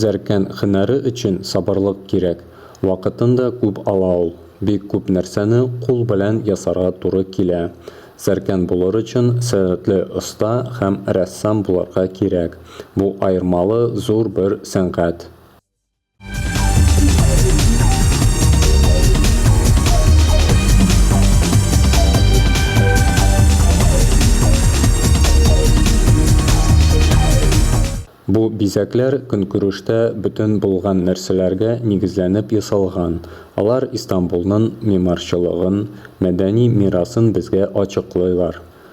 Зәркән һөнәре өчен сабырлык кирәк, вакытын да күп ала ул. Бик күп нәрсәне кул белән ясарга туры килә. Зәркән булыр өчен сәләтле оста һәм рәссам булырга кирәк. Бу аермалы зур бер сәнгать. Бу бизәкләр көнкүрештә бөтен булган нәрсәләргә нигезләнеп ясалган, алар Истанбулнын мимарчылыгын, мәдәни мирасын безгә ачыклыйлар.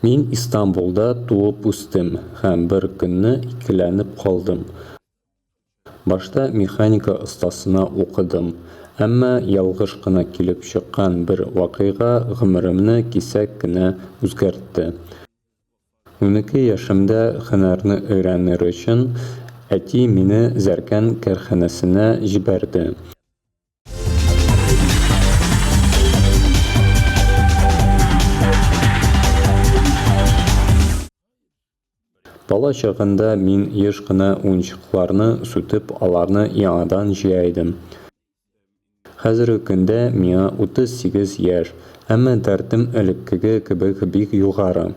Мин Истанбулда туып үстем һәм бер көнне икеләнеп калдым. Башта механика остасына укыдым, әмма ялгыш кына килеп чыккан бер вакыйга гомеремне кисәк кенә үзгәртте. Унике яшемдә һөнәрне өйрәнер өчен, әти мине Зәркән кәрханәсенә җибәрде. Бала чагында мин еш кына уенчыкларны сүтеп, аларны яңадан җыя идем. Хәзерге көндә миңа 38 яшь, әмма дәртем элеккеге кебек бик югары.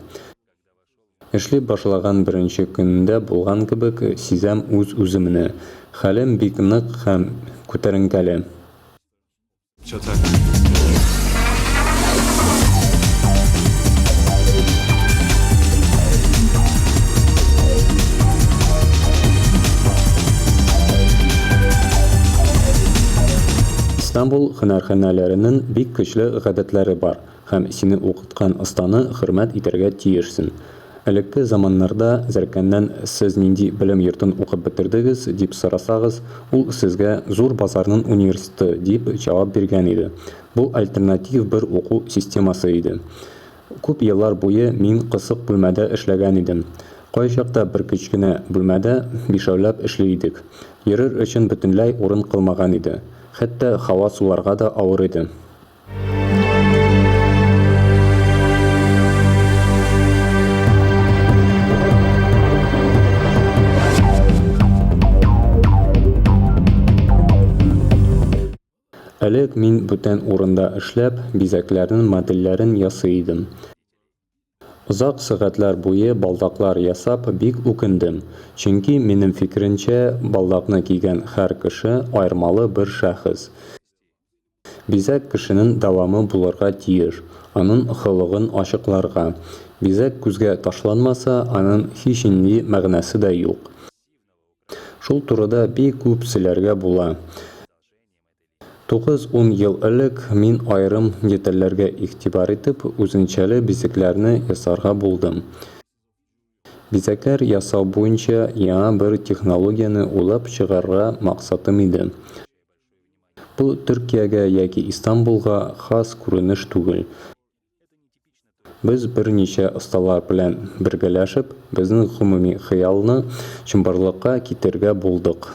Эшли башлаган беренче көнендә булган кебек сизәм үз-үземне. Хәлем бик нык һәм күтәренкеле. Истанбул һөнәрханәләренең бик көчле гадәтләре бар. Һәм сине укыткан останы хөрмәт итәргә тиешсен. Элекке заманнарда зәркәннән сез нинди белем йортын укып бетердегез, дип сорасагыз, ул сезгә зур базарнын универсты дип җавап биргән иде. Бу альтернатив бер уку системасы иде. Күп еллар буе мин кысык бүлмәдә эшләгән идем. Кайчакта бер кечкенә бүлмәдә бишәүләп эшли идек. Йөрер өчен бөтенләй урын калмаган иде. Хәтта һава суларга да авыр иде. Элек мин бүтән урында эшләп, бизәкләрнең модельләрен ясый идем. Озак сәгатьләр буе балдаклар ясап бик үкендем, чөнки, минем фикеремчә, балдакны кигән хәр кеше аермалы бер шәхес. Бизәк кешенен дәвамы булырга тиеш, анын хылыгын ачыкларга. Бизәк күзгә ташланмаса, анын һичинди мәгънәсе дә юк. Шул турыда бик күп сөйләргә була. Тугыз-ун ел элек мин аерым детальләргә игътибар итеп, үзенчәле бизәкләрне ясарга булдым. Бизәкләр ясау буенча яңа бер технологияне уйлап чыгарырга максатым иде. Бу Төркиягә яки Истанбулга хас күренеш түгел. Без берничә осталар белән бергәләшеп, безнең гомуми хыялны чынбарлыкка китерергә булдык.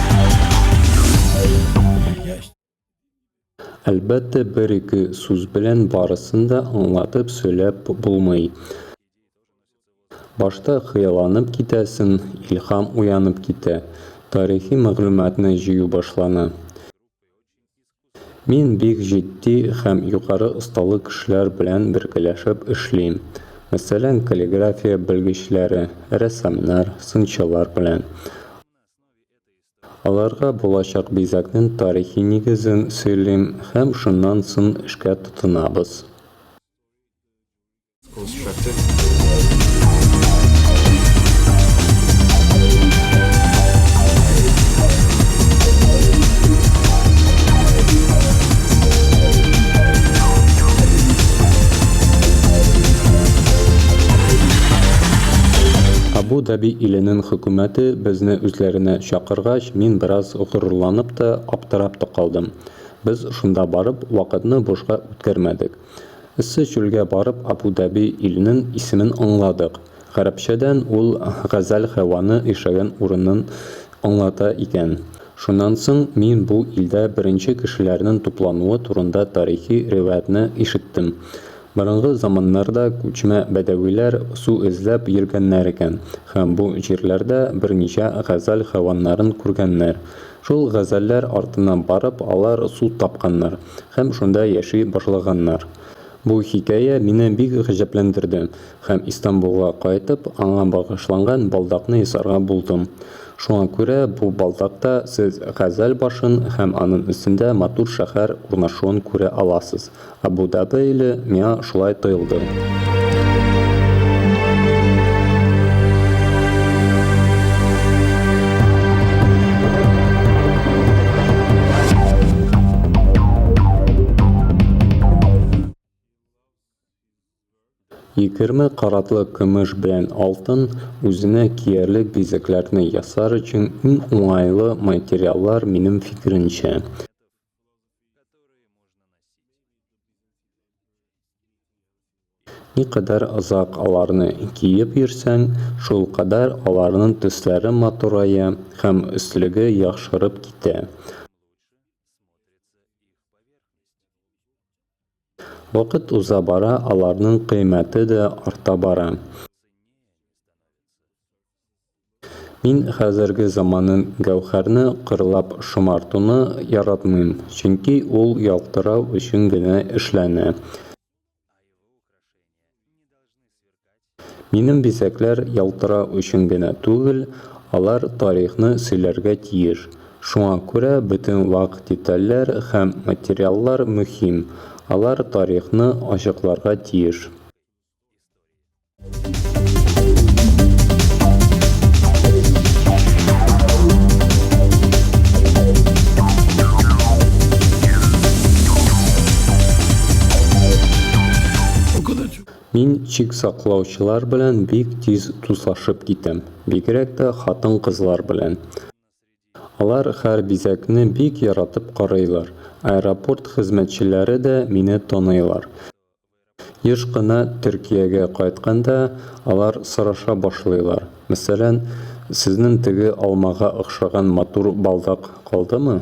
Әлбәттә, бер-ике сүз белән барысын да аңлатып сөйләп булмый. Башта хыялланып китәсең, илһам уянып китә, тарихи мәгълүматны җыю башлана. Мин бик җитди һәм югары осталы кешеләр белән бергәләшеп эшлим. Мәсәлән, каллиграфия белгечләре, рәссамнар, сынчылар белән. Аларга булачак бизәкнең тарихи нигезен сөйлим һәм шуннан сон эшкә тотынабыз. Абу-Даби иленең хөкүмәте безне үзләренә чакыргач, мин бераз горурланып та, аптырап та калдым. Без шунда барып, вакытны бушка үткәрмәдек. Эссе чүлгә барып Абу-Даби иленен исемен аңладык. Гарәпчәдән ул Газәл һәваны ишәгән урынын аңлата икән. Шуннан соң мин бу илдә беренче кешеләрнен туплануы турында тарихи риваятны ишеттем. Борынгы заманнарда күчмә бәдәвиләр су эзләп йөргәннәр икән һәм бу җирләрдә берничә Газәл һәваннарын күргәннәр. Шул Газәлләр артыннан барып алар су тапканнар. һәм шунда яши башлаганнар. Бу хикәя мине бик гаҗәпләндерде һәм Истанбулга кайтып, аңа багышланган балдакны ясарга булдым. Шуңа күрә бу балдакта сез Газәл башын һәм анын өстендә матур шәһәр урнашуын күрә аласыз. Абу-Дабы иле миңа шулай тоелды. Егерме каратлы көмеш белән алтын үзенә киярлек бизәкләрне ясар өчен иң уңайлы материаллар минем фикеремчә. Никадәр озак аларны киеп йөрсәң, шулкадәр аларның төсләре матурая һәм өслеге яхшырып китә. Вакыт уза бара, аларның кыйммәте дә арта бара. Мин хәзерге заманын Гәүһәрне кырлап шомартуны яратмыйм, чөнки ул ялтырау өчен генә эшләнә. Минем бизәкләр ялтырау өчен генә түгел, алар тарихны сөйләргә тиеш. Шуңа күрә бөтен вак детальләр һәм материаллар мөһим, алар тарихны ачыкларга тиеш. Мин чик саклаучылар белән бик тиз дуслашып китәм, бигрәк тә хатын-кызлар белән. Алар һәр бизәкне бик яратып карыйлар. Аэропорт хезмәтчеләре дә мине таныйлар. Еш кына Төркиягә кайтканда, алар сораша башлыйлар, мәсәлән, Сезнең теге алмага охшаган матур балдак калдымы?